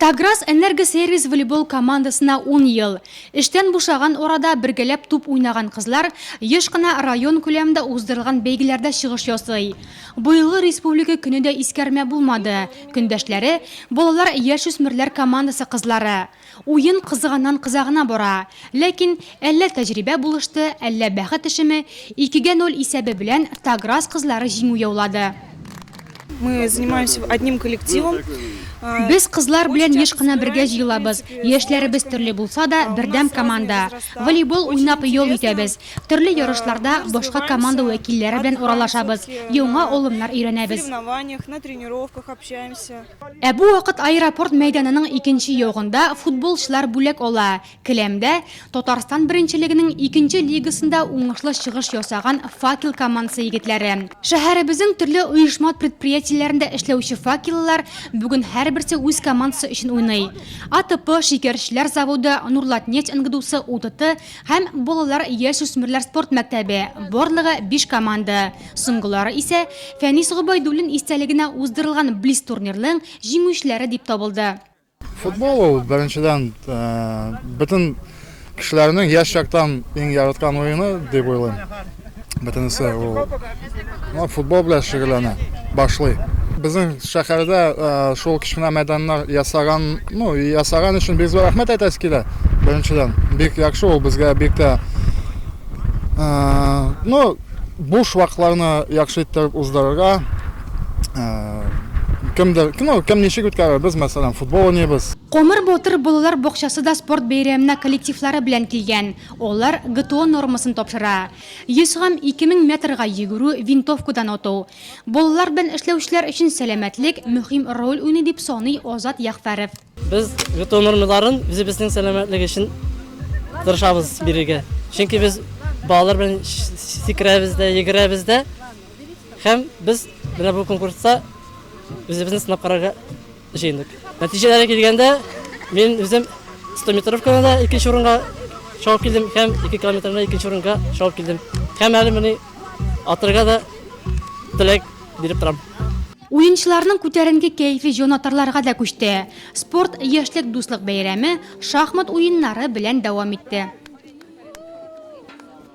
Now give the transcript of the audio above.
Таграс Энергосервис волейбол командасына ун ел. Эштән бушаган арада бергәләп туп уйнаган кызлар еш кына район күләмендә уздырылган бәйгеләрдә чыгыш ясый. Быелгы республика көне дә искәрмә булмады, көндәшләре, балалар-яшүсмерләр командасы кызлары. Уен кызыганнан-кыза гына бара. Ләкин Әллә тәҗрибә булышты, әллә бәхет эшеме, икегә ноль исәбе белән Таграз кызлары җиңү яулады. Мы занимаемся одним коллективом. Без кызлар белән еш кына бергә җыелабыз. Яшьләребез төрле булса да, бердәм команда. Волейбол уйнап ял итәбез. Төрле ярышларда башка команда вәкилләре белән аралашабыз, яңа алымнар өйрәнәбез. Ә бу вакыт аэропорт мәйданының икенче ягында футболчылар бүләк ала. Келәмдә Татарстан беренчелегенең икенче лигасында уңышлы чыгыш ясаган Факел командасы егетләре. Шәһәребезнең төрле оешма-предприятиеләрендә эшләүче факеллылар бүген һәрберсе үз командасы өчен уйный. АТП, Шикәрчеләр заводы, Нурлатнефть НГДУсы, УТТ һәм Балалар, яшүсмерләр спорт мәктәбе, барлыгы биш команда. Соңгылары исә Фәнис Гобәйдуллин истәлегенә уздырылган блиц-турнирның җиңүчеләре дип табылды. Футбол ул беренчедән бөтен кешеләрнең яшь чактан иң яраткан уены дип уйлыйм. Бөтенесе ул футбол белән шөгыльләнә, башлый. Безнең шәһәрдә шул кечкенә мәйданнар ясаган, ну, ясаган өчен бик зур рәхмәт әйтәсе килә. Беренчедән, бик яхшы ул безгә бик тә ну, буш вакытларны яхшы иттереп уздырырга, Кемдер, ну, кем ничек үткәрер, без, мәсәлән, футбол уйныйбыз. Комыр Батыр балалар бакчасы да спорт бәйрәменә коллективлары белән килгән. Алар ГТО нормасын тапшыра. 100 һәм 2000 метрга йөгерү, винтовкадан ату. Балалар белән эшләүчеләр өчен сәламәтлек мөһим роль уйный, дип саный Азат Ягъфәров. Без бетон нормаларын үзебезнең сәламәтлек өчен тырышабыз бирергә. Чөнки без балалар белән сикерәбез дә, йөгерәбез дә. Һәм без менә бу конкурста үзебезне сынап карарга җыендык. Нәтиҗәләре килгәндә, мин үзем 100 метровкада да икенче урынга шауып килдем һәм 2 километрда икенче урынга шауып килдем. Һәм әле менә атырга да теләк биреп торам. Уенчыларның күтәренке кәефе җонатарларга да күчте. Спорт, яшьлек дуслык бәйрәме шахмат уеннары белән дәвам итте.